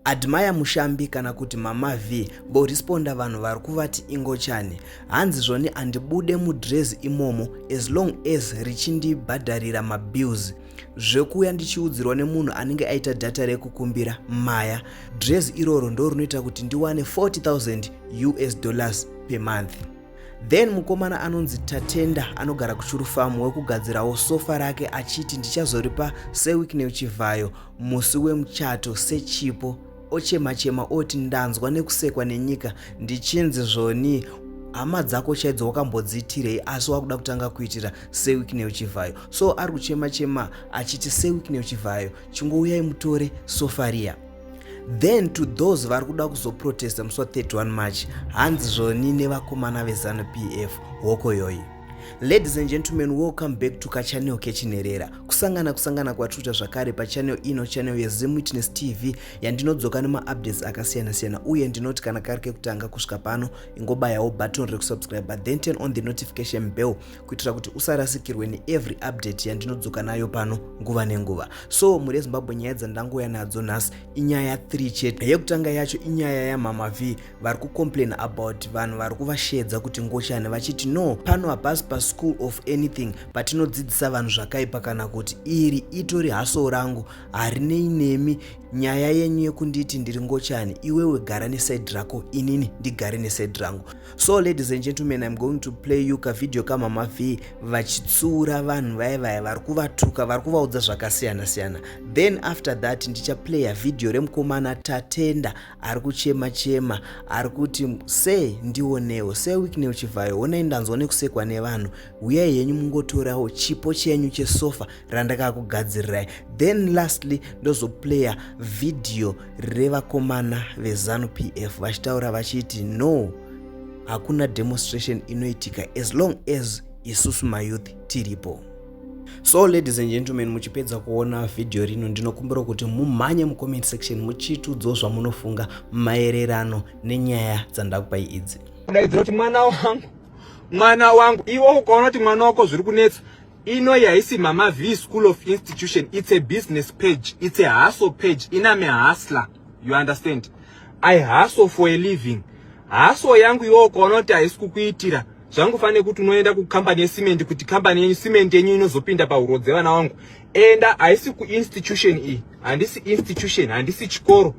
Admire Mushambi kana kuti Mama V voresponda vanhu vari kuvati ingochani. Hanzi zvoni andibude mudrezi imomo as long as richindibhadharira mabills. Zvekuuya ndichiudzirwa nemunhu anenge aita data rekukumbira maya. Drezi iroro ndorinoita kuti ndiwane 40,000 US dollars per month. Then mukomana anonzi Tatenda anogara kuChuru Farm wekugadzirawo sofa rake achiti ndichazoripa seWicknell Chivhayo musi wemuchato sechipo ochemachema oti ndanzwa nekusekwa nenyika ndichinzi zvoni hama dzako chaidzo wakambodziitirei asi wakuda kutanga kuitira seWicknell Chivhayo so ari kuchema chema achiti seWicknell Chivhayo chingouyai mutore sofa riya then to those vari kuda kuzoprotesta musi wa31 march hanzi zvoni nevakomana vezanu p f hoko yoyi ladies and gentlemen welcome back to kachanel kechinherera kusangana kusangana kwatruta zvakare pachanel ino chanel yezim witness tv yandinodzoka nemaupdates akasiyana-siyana uye ndinoti kana kari kekutanga kusvika pano ingobayawo button rekusubscribe then turn on the notification bell kuitira kuti usarasikirwe neevery update yandinodzoka nayo pano nguva nenguva so mhuri yezimbabwe nyaya dzandangouya nadzo nhasi inyaya 3 chete yekutanga yacho inyaya yamama v vari kucomplain about vanhu vari kuvashedza kuti ngochani vachiti no pano hapasi paschool of anything patinodzidzisa vanhu zvakaipa kana kuti iri itori haso rangu harinei nemi nyaya yenyu yekunditi ndiri ngochani iwewe gara nesaidi rako inini ndigare nesaidi rangu so ladies and gentlemen im going to play you kavideo kamama v vachitsura vanhu vaye vaye vari kuvatuka vari kuvaudza zvakasiyana siyana then after that ndichaplaya vhidhiyo remukomana tatenda ari kuchema chema ari kuti se ndionewo se wiknel chivhayo honai ndanzwa nekusekwa nevanhu huyai henyu mungotorawo chipo chenyu chesofa randakakugadzirirai then lastly ndozoplaya vhidhiyo revakomana vezanu pf vachitaura vachiti no hakuna demonstration inoitika as long as isusu mayouth tiripo so ladies and gentlemen muchipedza kuona vhidhiyo rino ndinokumbira kuti mumhanye mucomment section muchitudzawo zvamunofunga maererano nenyaya dzandakupai idzi kudaidzira kuti mwana wangu mwana wangu iwe ukaona kuti mwana wako zviri kunetsa Inoyi haisi Mama V School of Institution, it's a business page, it's a hustle page, iname hustler, you understand? I hustle for a living. Hustle yangu iwe ukaona kuti haisi kukuitira zvangu fane kuti unoenda kucompany yesimende kuti company yenyu simende yenyu inozopinda pahuro dzevana wangu enda haisi kuinstitution iyi handisi institution handisi chikoro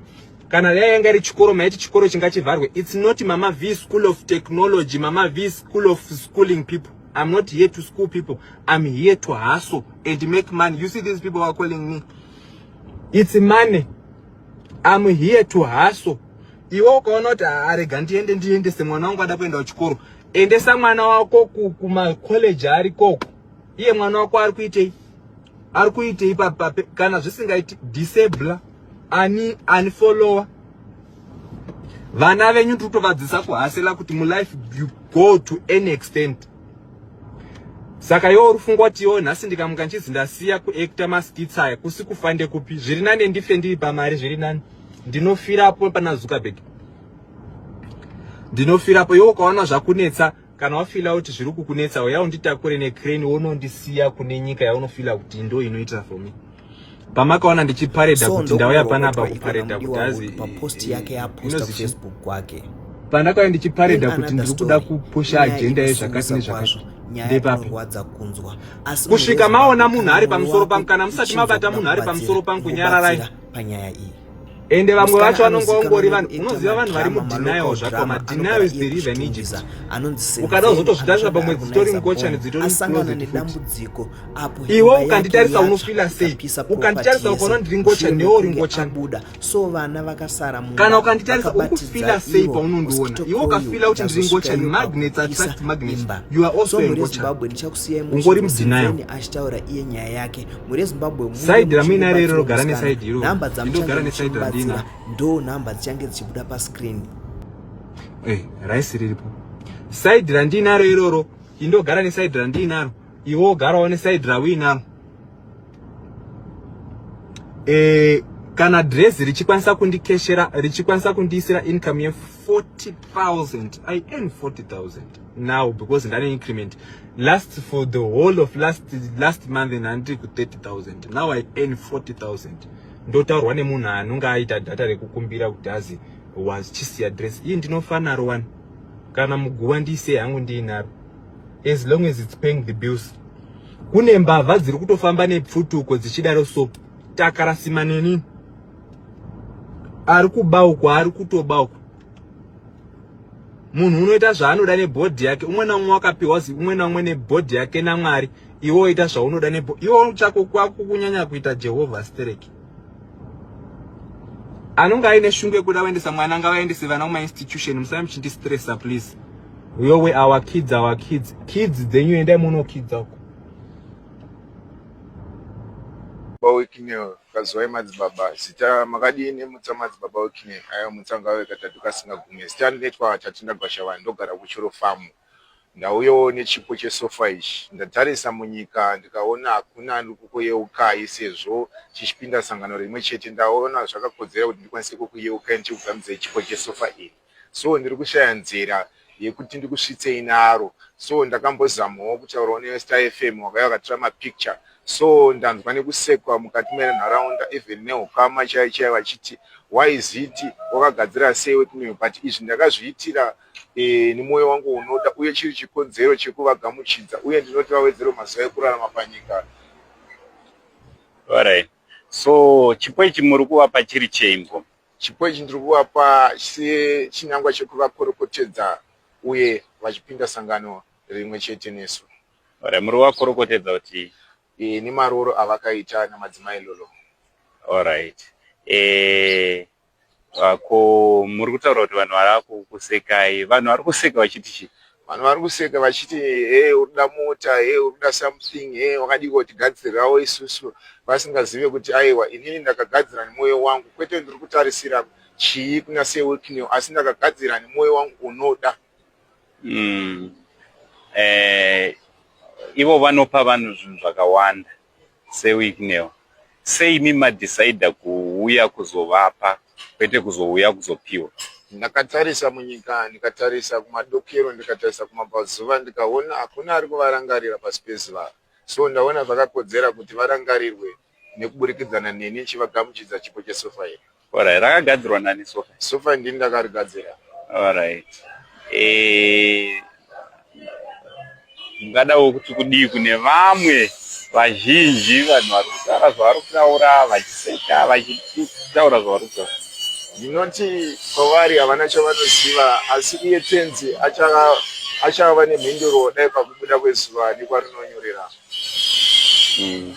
kana dai yanga iri chikoro maiti chikoro chingachivharwe its not mama v school of technology mama v school of schooling people I'm not here to school people. I'm here to hustle and make money. You see these people are calling me. It's money. I'm here to hustle. Iwe ukaona kuti arega ndiende ndiendese mwana wangu ada kuenda kuchikoro. Endesa mwana wako kuma college ari koko. Iye mwana wako ari kuitei? Ari kuitei papa kana zvisingaiti disable ani ani follower vana venyu tutovadzisa kuhasela kuti mulife you go to any extent saka iwo uri fungwa kuti iwo nhasi ndikamuka ndichizi ndasiya kuacta maskits aya kusi kufa ndekupi zviri nane ndife ndiri pamari zviri nani ndinofirapo pana zuckerberg ndinofirapo iwo ukaona zvakunetsa kana wafila kuti zviri kukunetsa uya unditakure necrane wonondisiya kune nyika yaunofila kuti ndo inoita for me pamakaona ndichipareda so, kuti ndauya panapa kupareda kuti azi paposti yake yaposta facebook kwake pandakauya ndichipareda kuti ndiri kuda kupusha ajenda yezvakati nezvakati ndepapi kusvika maona munhu ari pamusoro pangu kana musati mabata munhu ari pamusoro pangu nyararai panyaya iyi ende vamwe vacho vanonga vangori vanhu unoziva vanhu vari mudenial zvakoma denial is believe an egypt ukada uzotozvitarisa pamwe dzitori ngochani dzitori nedambudziko apo iwe ukanditarisa unofila sei ukanditarisa ukaona ndiri ngochani newe uri ngochani so vana vakasara kana ukanditarisa ukufila sei paunondiona iwe ukafila kuti ndiri ngochani magnets attract magnets you are also a ngochani ungori mudenial achitaura iye nyaya yake mhuri yezimbabwe side ramuinaro iro rogara neside iro nhamba dzamuchangemuchibatsira ndo nhamba dzichange dzichibuda pascreen eh, raisi riripo side randiinaro iroro indogara neside randiinaro iwe ogarawo neside rauinaro e, eh, kana dress richikwanisa kundikeshera richikwanisa kundiisira income ye 40,000 I earn 40,000 now because an increment last for the whole of last last month and until 30,000 now I earn 40,000 ndotaurwa nemunhu anonge aita data rekukumbira kuti azi was chisi address iyi ndinofanaro wani kana muguva ndiise yangu ndiinaro as long as it's paying the bills kune mbavha dziri kutofamba nepfutuko dzichidaro so takarasima nenini ari kuba uku ari kutoba uku munhu unoita zvaanoda nebhodhi yake umwe naumwe wakapiwa zi umwe naumwe nebhodhi yake namwari iwo ita zvaunoda nebo iwo chako kwako kunyanya kuita jehovha stereki anonge aine shungu yekuda kuendesa mwana ngavaendese vana kumainstitution musai muchindistressa please yowe our kids our kids kids dzenyu endai munokidza uko Kazivai madzibaba zita makadii nemutsa madzibaba wekine ayo mutsa ngave katatu kasingagume zita rinoitwa Tatinda Gwashavani ndogara kuChuru Farm ndauyawo nechipo chesofa ichi ndatarisa munyika ndikaona hakuna ari kukuyeukai sezvo chichipinda sangano rimwe chete ndaona zvakakodzera kuti ndikwanise kukuyeukai ndichikugamidzai chipo chesofa iri so ndiri kushaya nzira yekuti ndikusvitsei naro so ndakambozamawo kutaurawo nestar fm wakauya wakatora mapicture so ndanzwa nekusekwa mukati menharaunda even neukama chai chai vachiti why is it wakagadzira sei wekimeo but izvi ndakazviitira e, nemwoyo wangu unoda uye chiri chikonzero chekuvagamuchidza uye ndinoti vawedzero mazuva ekurarama panyika Alright. so chipo ichi muri kuvapa chiri cheimbo Chipo ichi ndiri kuvapa sechinangwa chekuvakorokotedza uye vachipinda sangano rimwe chete nesu. Alright, muri kuvakorokotedza kuti Eh, nemarooro avakaita namadzimai lolo. Alright. Eh, ah, ko muri kutaura kuti vanhu vari kukusekai. Vanhu vari kuseka vachiti chii? vanhu vari kuseka vachiti hey urikuda mota hey urikuda something hey wakadii kotigadzirirawo isusu vasingazive kuti aiwa inini ndakagadzira nemwoyo wangu kwete ndiri kutarisira chii kuna sewiknew asi ndakagadzira nemwoyo wangu unoda mm. eh, ivo vanopa vanhu zvinhu zvakawanda seWicknell sei imi madecider kuuya kuzovapa kwete kuzouya kuzopiwa. Ndakatarisa munyika ndikatarisa kumadokero ndikatarisa kumabvazuva ndikaona hakuna ari kuvarangarira pasi pezuva so ndaona zvakakodzera kuti varangarirwe nekuburikidzana neni ndichivagamuchidza chipo chesofa iri. Alright, rakagadzirwa nani sofa? Sofa ndini ndakarigadzira. Alright. Eh ungadawo kuti kudii kune vamwe vazhinji vanhu vari kutaura zvavari kutaura vachiseka vachitaura zvavari kutaura ndinoti kwavari havana chavanoziva asi iye tenzi achava nemhinduro dai pakubuda kwezuva nekwarinonyorera mm.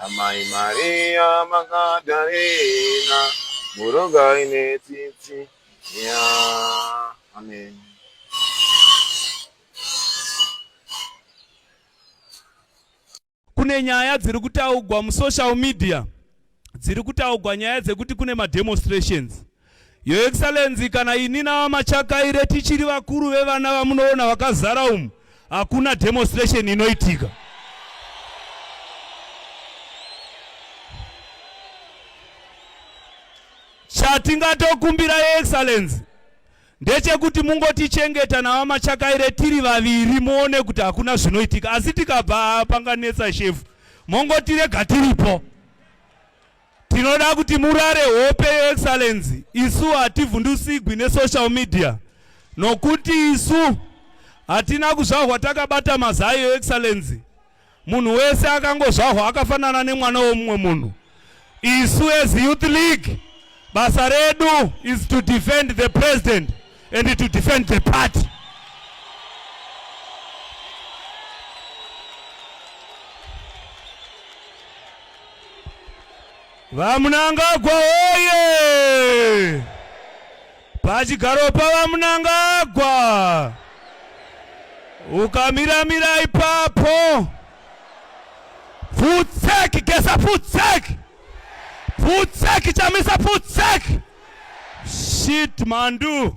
Amai Maria Magdalena, murogai netsitsi ya. Amen. Kune nyaya dziri kutaugwa musocial media dziri kutaugwa nyaya dzekuti kune mademonstrations Your Excellency, kana ini naVaMachakaire tichiri vakuru vevana vamunoona vakazara umu, hakuna demonstration inoitika. Chatingatokumbira Your Excellency ndechekuti mungotichengeta naVaMachakaire tiri vaviri muone kuti hakuna zvinoitika, asi tikabva panganetsa shefu mongotirega tiripo. Tinoda kuti murare hope yeExcellency. Isu hativhundusigwi nesocial media nokuti isu hatina kuzvahwa takabata mazai yeExcellency. Munhu wese akangozvahwa akafanana nemwana womumwe munhu. Isu as Youth League basa redu is to defend the president and to defend the party. VaMnangagwa oye! Pachigaro paVaMnangagwa! Ukamiramira ipapo! Futseki gesa futseki! Futseki chamisa futseki! Shit mandu!